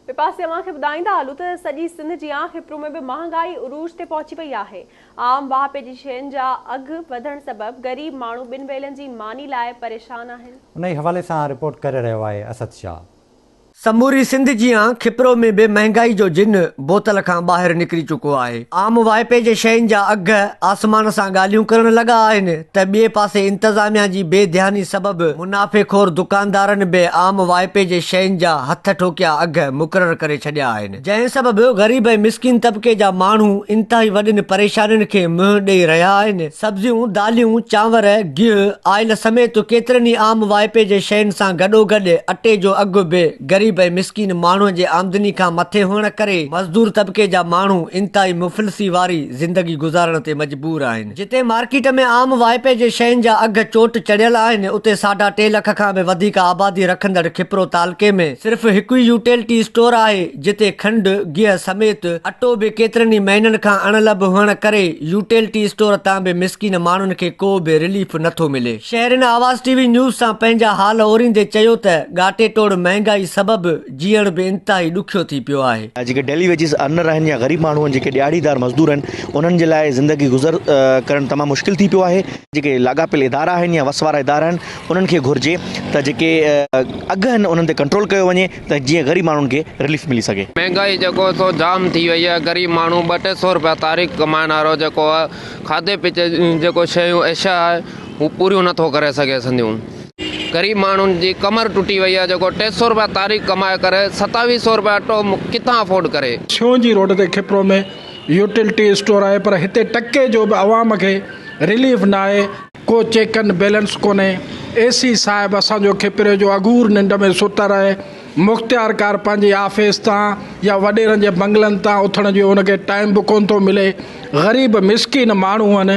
ٻئي پاسي اوهان کي ٻڌائيندا هلون ته سڄي سنڌ جيان خپرو ۾ به مهانگائي عروج تي پهچي وئي آهي. عام واهپي جي شين جا اگهه وڌڻ سبب غريب ماڻهو ٻن ويلن جي ماني لاء پريشان آهن. انهي حوالي سان رپورٽ ڪري رهيو آهي اسد شاهه. سموري سنڌ جيان خپرو ۾ به مهانگائي جو جن بوتل کان ٻاهر نڪري چڪو آهي. عام واهپي جي شين جا اگهه آسمان سان ڳالهيون ڪرڻ لڳا آهن. ته ٻئي پاسي انتظاميا جي بي ڌياني سبب منافعي خور دڪاندارن به عام وائپي جي شين جا هٿ ٺوڪيا اگهه مقرر ڪري ڇڏيا آهن جنهن سبب غريب ۽ مسڪين طبقي جا ماڻهو انتهائي وڏين پريشانين کي منهن ڏئي رهيا آهن سبزيون داليون چانور گيهه آئل سميت ڪيترن ئي عام وائپي جي شين سان گڏوگڏ اٽي جو اگهه به غريب ۽ مسڪين ماڻهو جي آمدني کان مٿي هئڻ ڪري مزدور طبقي جا ماڻهو انتهائي مفلسي واري زندگي گذارڻ تي مجبور آهن. جتي مارڪيٽ ۾ عام واهپي جي شين جا اگهه چوٽ چڙهيل آهن اتي ساڍا ٽي لک کان به وڌيڪ آبادي رکندڙ کپرو تعلقي ۾ صرف هڪ ئي يوٽيلٽي اسٽور آهي جتي کنڊ، گيهه سميت اٽو به ڪيترن ئي مهينن کان اڻلڀ هئڻ ڪري يوٽيلٽي اسٽور تان به مسڪين ماڻهن کي ڪو به رليف نٿو ملي. شهرين آواز ٽي وي نيوز سان پنهنجا حال اوريندي چيو ته ڳاٽي ٽوڙ مهنگائي سبب جيئڻ به انتهائي ڏکيو ٿي پيو آهي. جيڪي ڊيلي ويجز ارنر آهن يا غريب ماڻهو آهن جيڪي ڏهاڙيدار مزدور آهن انهن جي لاء زندگي گذر ڪرڻ تمام مشڪل ٿي پيو آهي. جيڪي لاڳاپيل ادارا آهن يا وس وارا ادارا آهن انهن کي گهرجي ته جيڪي اگهه آهن انهن تي ڪنٽرول ڪيو وڃي ته جيئن غريب ماڻهن کي رليف ملي سگهي. مهنگائي جيڪو هي سو جام ٿي وئي آهي غريب ماڻهو ٻه ٽي سو روپيا تاريخ ڪمائڻ وارو جيڪو آهي کاڌي پيتي جون جيڪو شيون اشيا آهي هو پوريون نٿو ڪري سگهي سنديون. غريب ماڻهن جي ڪمر ٽٽي وئي آهي جيڪو ٽي سئو رپيا تاريخ ڪمائي ڪري ستاويهه سئو رپيا اٽو ڪٿان افورڊ ڪري. سيون جي روڊ تي کپرو ۾ يوٽلٽي اسٽور آهي پر هتي ٽڪي جو به عوام کي رليف ناهي، ڪو چيڪ اينڊ بيلنس ڪونهي، اي سي صاحب اسان جو کپري جو اگهور ننڊ ۾ ستل آهي، مختيار ڪار پنهنجي آفيس تان يا وڏيرن جي بنگلن تان اٿڻ جو ان کي ٽائيم به ڪونه ٿو ملي، غريب مسڪين ماڻهون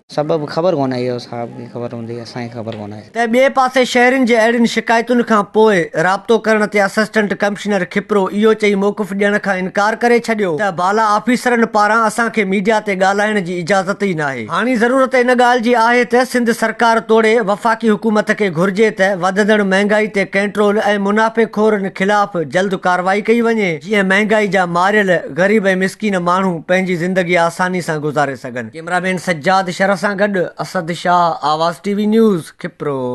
سبب خبر ڪونه آهي اهو صاحب کي خبر هوندي اسان کي خبر ڪونه آهي. ته ٻئي پاسي شهرين جي اهڙين شڪايتن کان پوء رابطو ڪرڻ تي اسسٽنٽ ڪمشنر کپرو اهو چئي موقف ڏيڻ کان انڪار ڪري ڇڏيو ته بالا آفيسرن پاران اسان کي ميڊيا تي ڳالهائڻ جي اجازت ئي ناهي. هاڻي ضرورت ان ڳالهه جي آهي ته سنڌ سرڪار توڙي وفاقي حڪومت کي گهرجي ته وڌندڙ مهنگائي تي ڪنٽرول ۽ منافعي خورن خلاف جلد ڪارروائي ڪئي وڃي جيئن مهنگائي جا ماريل غريب ۽ مسڪين ماڻهو پنهنجي زندگي آساني سان گذاري سگهن. ڪيمرا مين سجاد شرف سان گڏ Asad Shah Awaz T V News Khipro.